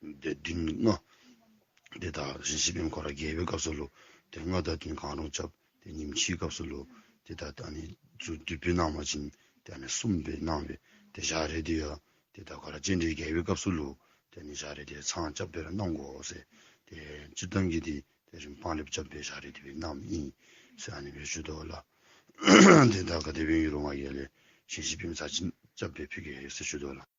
འདོད་དོན་ལྔ། དེ་དག་བཞིན་བཞི་པའི་འཁོར་རྒྱལ་པོའི་སྐབས་སུ་ལུགས། དེ་ལྔ་དག་གིས་གང་རུང་བཅབ། དེ་ཉིད་མཆིའི་སྐབས་སུ་ལུགས། དེ་དག་དང་ནི་ཚུལ་བདུད་པོའི་སྣང་བ་སྦྱིན། དེ་ནི་གསུམ་པའི་སྣང་བས་དེ་ཞག་རེ་དེ་ཡོད། དེ་དག་གར་སྤྱན་འདྲེན་རྒྱལ་པོའི་སྐབས་སུ་ལུགས། དེ་ནི་ཞག་རེ་དེ་ཚངས་བཅབ་པའི་སྣང་གོ། ཟེར་ཏེ། སྤྱིར་བཏང་གི་དེ་དེ་རིང་སྤང་ལེབ་བཅབ་པའི་ཞག་རེ་དེ་བས་རྣམ་གཡེང། སེ་ཨ་ནི་བའི་ཞུ་དོགས་ལ། དེ་དག་གི་དེ་བས་ཡུལ་རུང་བ་ཡོད་ལས་གཞན་བཞི་པའི་མཛའ་བཅིངས་བཅབ་པའི་ཕི་གའི་ཡོད་སེ་ཞུ་དོགས་ལ།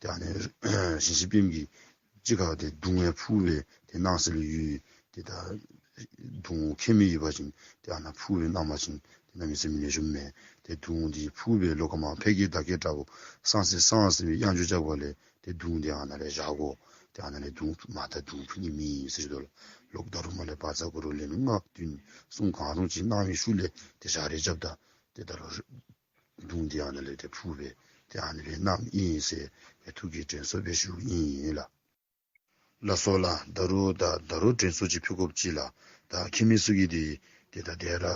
དེ་ནས་ཞིང་ཞི་བེམ་གྱིས་ཅི་ག་དེ་སྡུག་བསྔལ་ཕུག་ལས་དེ་སྣང་གསལ་ལ་ཡུལ་དེ་དག་སྡུག་བསྔལ་ཁས་མི་གཡོས་པ་བཞིན་དེ་ཡང་ན་ཕུག་ལས་སྣང་བ་བཞིན་དེ་ན་མི་སེམས་ལས་ཞུམ་མེད་དེ་སྡུག་བསྔལ་དེའི་ཕུག་པའི་ལོ་ཀ་མ་ཕལ་སྐད་བརྡ་སྐད་འདྲ་བོ་སང་སེ་སང་ཟེར་བའི་དབྱངས་བཅུ་བཅག་པ་ལས་དེ་སྡུག་བསྔལ་དེ་ཡང་ན་ལས་བཞག་གོ་དེ་ཡང་ན་ལས་སྡུག་བསྔལ་མ་དག་སྡུག་བསྔལ་ཕུག་ཉིད་མིན་ཡིན་ཟེར་དུ་ལོག་བདག་རུ་མ་ལས་བ་ཚ་གུ་རུ་ལན་སྔགས་བདུན་གསུམ་གང་རུང་གཅིག་སྣང་བའི་ཤུགས་ལས་དེ་བཞག་རེ་བཅབ་ད་དེ་ལྟར་རོ། གདུང་འདི་ཡང་ནི་ལས་དེ་ཕུལ་བས་དེ་ཡང་ནི་བའི་རྣམ་དབྱེ་ཡིན། ཟེར་བའི་ཐུགས་ཀྱི་དྲན་གསོ་བའི་ཤུགས་དབྱིངས་ཡིན་ལ། ལ་སོགས་ལ། བདག་རུ་བདག་བདག་རུ་དྲན་གསོ་ཅི་ཕུལ་སྐོབས་ཅི་ལ་བདག། ཁྱིམ་མིན་སུ་ཡིས་དེ་དེ་ད་ལྟའི་ར།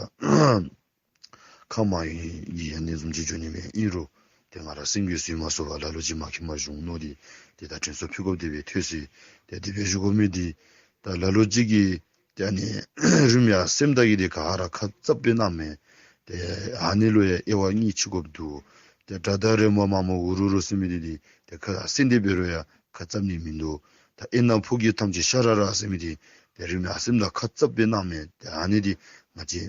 ཁམས་མ་ཡིན་ཡིད་ཡ་གནས་འཛོམས་ཅི་བྱུང་ཉི་མའི་དབྱིངས་རུ། དེ་ང་ར་སེམས་ཀྱི་ཟུལ་མ་གསོ་བ་ལ་ལུས་ཅི་མ་ཁྱིམ་མ་གཞུང་རྣོ་དེ་དེ་ད་དྲན་གསོ་ཕུལ་སྐོབས་དེ་བས་ཐོས་སྲིད་དེ་དེ་བས་བཞུགས་སྐོབས་མི་དེ་ད་ལ་ལུས་གཅིག་གིས་རྒྱ་ནི་རུམ་ཡ་སེམས་ད་གི་རི་ག་ཧ་ར་ཁ་ཙབ་པི་ན་མེ་དེ་ཧ་ནི་ལོ་ཡ་ཨེ་བ་གཉིས་ཆི་གོབ་དུ་དེ་དྲ་ད་རེ་མོ་མ་མོ་ཝུ་རུ་རུ་སི་མི་དི་དི་དེ་ཁ་སི་འདི་བེ་རུ་ཡ་ཁ་ཙབ་ནི་མི་འདུག་ད་ཨེ་ན་ཕུག་གི་ཐམ་ཆི་ཤ་ར་ར་སི་མི་དི་དེ་རུམ་ཡ་སེམས་ད་ཁ་ཙབ་པི་ན་མེ་དེ་ཧ་ནི་དི་ང་ཅི།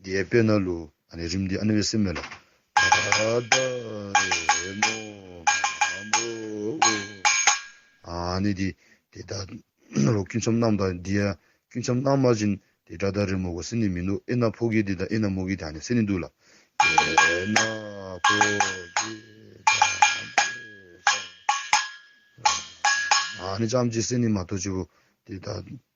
འདི་ཡའི་པད་ན་ལུ། རིམ་འདི་ཨ་ནེ་བའི་སེམས་མེ་ལ། ཨ་ཏཱ་རེ་མོ་མ་མོ་ཨོ། ཨ་ནེ་འདི་དེ་དག་རོ་སྐྱུ་མཚམས་རྣམས་དང་འདི་ཡའི་སྐྱུ་མཚམས་རྣམས་མ་བྱིན་ཏེ་ཏྲ་ཏཱ་རེ་མོ་གོ་སེ་ནི་མི་འདུག་ཨེ་ན་ཕོ་གི་འདི་དང་ཨེ་ན་མོ་གི་དེ་ཨ་ནེ་སེ་ནི་འདུག་ལ། ཨེ་ན་ཕོ་གི་དང་དེ་སེ་ཨ་ནེ་ཅམ་ཅི་སེ་ནི་མ་ཐོ་ཅི་བོ་དེ་དག།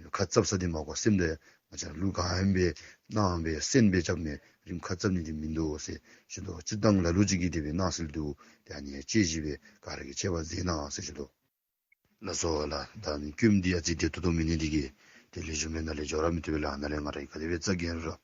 རིམ་ཁ་ཙབ་ས་དེ་མ་གོ་སེམས་ལས་མ་བྱ་ལུས་གང་ཡིན་པའི་སྣང་བས་སེམས་པས་བཅབས་ནས་རིམ་ཁ་ཙབ་ནི་དེ་མིན་ཏོ་ཟེར་བཞིན་དུ་སྤྱིར་བཏང་གི་ལ་ལུས་གཅིག་གིས་དེ་བས་ནག་སེལ་དུ་བྱ་ནས་དཔྱད་བཞི་པའི་ག་རེ་གི་ཆད་པ་འཛིན་ནའང་ཟེར་བཞིན་དུ། ལ་སོགས་བ་ལ་བདག་ནི་སྐྱོན་འདི་ཡ་ཙི་དེ་ཏོ་ཏོ་མི་ནི་འདི་གི་དེ་ལས་བྱུང་བའི་ན་ལས་འཇོག་ར་མི་ཐུབ་པའི་ལའང་ན་ལས་ང་ར་ཡི་ག་དེ་བས་རྩ་རྒན་རུ་ར་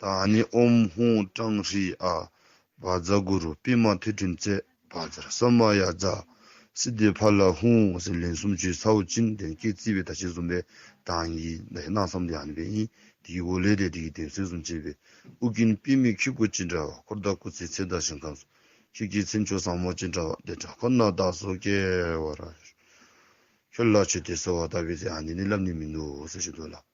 ད་ནི་ཨོམ་ཧོང་ཀྲང་ཧྲི་ཨ་བ་རྫ་གུ་རུ་པི་མ་ཐོད་ཕྲིན་བརྩེགས་པ་ཛར་ས་མ་ཡ་རྫ་སི་ཏི་བྷ་ལ་ཧུང་ཟི་ལིན་སུམ་ཅུའི་ཚའོ་ཅིན་བདེན་བསྐྱེད་བརྩི་བའི་ད་ཆའི་འཛུམ་པའི་དང་ཡི་ནའི་གནང་བསམ་དེ་ཨན་བེ་ཡིན་དེ་ཡི་ཝོ་ལེ་ཏའི་དེ་ཡི་དེམ་སེམས་སུམ་ཅན་པའི་ཨུ་གིན་པི་མི་ཁྱུད་སྐུ་ཅི་འདྲ་བ་འཁོར་བདག་སྐུ་ཚེའི་ཚེ་བདག་ཞིང་ཁམས་སུ་ཁྱོད་ཀྱི་ཚེ་མཆོག་བཟང་མོ་ཅི་འདྲ་བ་དེ་འདྲ་ཁོ་ན་བདག་སོགས་སྐལ་བ་ར་ཁྱོད་ལ་ཆོས་དེ་གསོལ་བ་བཏབ་པའི་ཚེ་ཨ་ནི་ནི་ལབ་ནི་མི་འདུག་ཟེར་བཞིན་འདུག་ལ།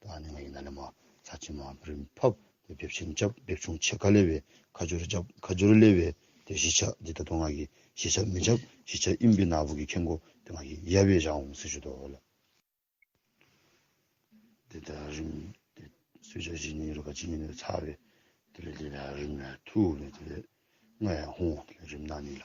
ཏུ་ཨ་ནེ་ང་ཡི་ན་ལེ་མ། ཚ་ཆེན་མ་བུ་རིམ་ཕབ། དེ་འབེབས་ཆེན་བཅབ་འབེབས་ཆུང་ཕྱེད་ཀ་ལེ་བའི་ཁ་སྦྱོར་བཅབ་ཁ་སྦྱོར་ལེ་བའི་དེ་བཞི་ཆ་འདི་ད་དོ་ང་གི་བཞི་ཆ་མི་འཆབ་བཞི་ཆ་ཨིན་བི་ནག་བུ་གི་ཁེ་མགོ་དེ་ང་གི་ཡ་བའི་ཞང་འོང་སི་ཞུ་དོ་ལ། དེ་ད་རིམ་དེ་སུས་ཆ་བཞི་ཉིན་རུ་ཁ་བཅིང་ཉིན་ལེ་ཚ་བའི་དེ་ལེ་དེ་ད་རིམ་ལེ་ཐུག་ལེ་དེ་ལེ་ང་ཡ་ཧུང་དེ་ལེ་རིམ་ནག་ནི་ལ།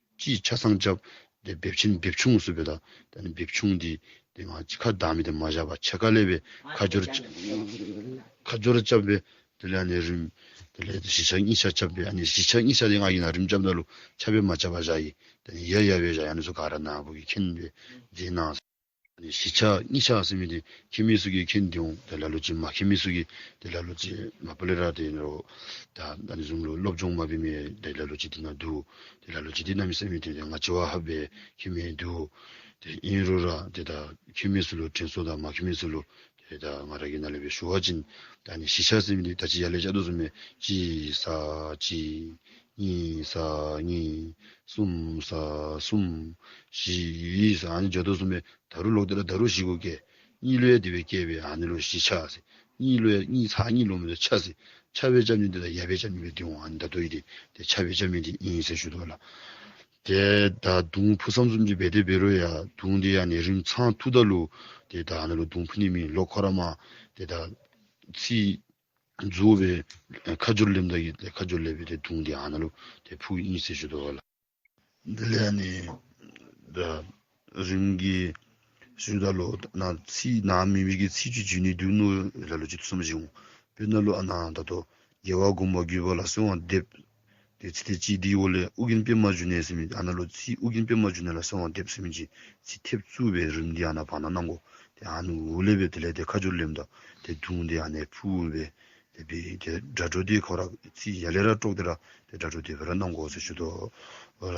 ཅིའི་ཆ་སངས་བྱབ། དེ་འབེབ་ཆེན་འབེབ་ཆུང་ངུ་སུ་བེད། དེ་ནི་འབེབ་ཆུང་འདི། དེ་ང་ཁ་བདག་མི་དེ་མ་བཞག་པ་ཆེ་ཁ་ལས་པའི་ཁ་སྦྱོར། ཁ་སྦྱོར་བྱབ་པས་དེ་ལས་ནི་རིམ། དེ་ལས་བཞི་ཆ་གཉིས་ཆ་བྱབ་པས་ནི་བཞི་ཆ་གཉིས་ཆ་དེ་ང་ཡིན་ན་རིམ་བྱབ་ན་ལུགས་ཆ་བེད་མ་བྱབ་པ་བཞག་ཡིན། དེ་ནི་ཡ་ཡ་བའི་བཞག་ཡ་ནི་སུ་ག་ར་ནག་པོ་གིས་མཁྱེན་པས་རྫིས་སྣང། གཞི་ཆགས་གཉིས་ཆགས་སེམས་དེ་ཁྱེད་མི་སུ་གིས་ཁྱེད་འདི་འོང་དེ་ལ་ལོ་ཅི་མ་ཁྱེད་མི་སུ་གིས་དེ་ལ་ལོ་ཅི་མ་པོ་ལེ་ར་དེ་རོ་ད་ད་ནི་བཟུང་ལོ་སློབ་སྦྱོང་མ་བི་མི་དེ་ལ་ལོ་ཅི་དེ་ན་འདུག་དེ་ལ་ལོ་ཅི་དེ་ན་མི་སེམས་མི་དེ་དེ་ང་ཅི་བ་ཧབ་བེ་ཁྱེད་མི་འདུག་དེ་ཨིན་རུ་ར་དེ་ད་ཁྱེད་མི་སུ་ལོ་དྲིན་སོ་ད་མ་ཁྱེད་མི་སུ་ལོ་རེ་ད་ང་ར་གི་ན་ལེ་བའི་ཞུ་བ་ཅིན་ད་ནི་ཞི་ཆགས་སིམ་ལི་ད་ཅི་ཡ་ལེ་ཅག་དུ་སུ་མེ་ཅི་ས་ཅི་གཉི་ས་གཉི་སུམ་ས་སུམ་ཞི་ས་ཨ་ནི་ཇོ་དུ་སུ་མེ་ད་རུ་ལོག་དེ་ལ་ད་རུ་ཞི་གུ་ཀེ་གཉི་ལོའི་དེ་བའི་སྐྱེ་བའི་ཨ་ནི་ལོ་ཞི་ཆགས་སི་གཉི་ལོའི་གཉི་ས་གཉི་ལོ་མེ་ད་ཆ་སི་ཆ་བའི་ཅག་མི་དེ་ལ་ཡ་བའི་ཅག་མི་བའི་དེ་འོང་ཨ་ནི་ད་དུ་ཡི་དེ་དེ་ཆ་བའི་ཅག་མི་དེ་ཨིན་ཟེར་ཞུ་དུ་བ་ལ་དེ་ད་དུང་ཕུ་སམ་སུམ་ཅུ་བེ་ཏེ་བེ་རོ་ཡ་དུང་དེ་ཡ་ནེ་རིམ་ཚང་ཐུག་ད་ལུ། དེ་ད་ནེ་ལོ་དུང་ཕུ་ནེ་མིན་ལོ་ཁོ་ར་མ། དེ་ད་ཚི། ཛུ་བེ། ཁ་ཇོར་ལེམ་ད་གི་ལེ་ཁ་ཇོར་ལེ་བེ་ཏེ་དུང་དེ་ཡ་ནེ་ལུ། དེ་ཕུ་གཉིས་སེ་ཞུ་དོ་ལ། དེ་ལེ་ཡ་ནེ། ད། རིམ་གྱིས་གཞུང་ད་ལོ་ན་ཚིག་ན་མི་དམིགས་ཀྱི་ཚིག་བཅུ་བཅུ་ནི་བསྡུ་ནོ་ཡོད་ལ་ལོ་བཅུ་དུ་སོམས་ཤིང་དཔེར་ན་ལོ་ཨ་ན་ད་དོ་རྒྱལ་བ་དགོངས་པ་བརྒྱུད་པ་ལ་གསོལ་བ་འདེབས། དེའི་ཚེ་དེ་ཅིའི་དེའི་འོ་ལས་ཨུ་གིན་པད་མ་འཇུ་ནའི་སེམས་ཨ་ན་ལོ་ཚིག་ཨུ་གིན་པད་མ་འཇུ་ནའི་ལ་གསོལ་བ་འདེབས་སེམས་ཀྱི་ཚིག་མཐེབ་བཙུགས་པའི་རིམ་འདི་ཨ་ན་བ་ན་གནང་གོ། དེ་ཨ་ནུ་འུ་ལས་བས་དེ་ལས་དེ་ཁ་སྦྱོར་ལེམ་དང་དེ་དུང་དེ་ཨ་ནའི་ཕུ་འུ་བས་དེ་བས་དེ་སྒྲ་སྒྲོ་དེའི་ཁོ་ར་ཚིག་ཡ་ལེ་ར་དཀྲོག་དེ་ར་དེ་སྒྲ་སྒྲོ་དེ་བས་ར་གནང་གོ་སོགས་ཞུ་དོ། ལ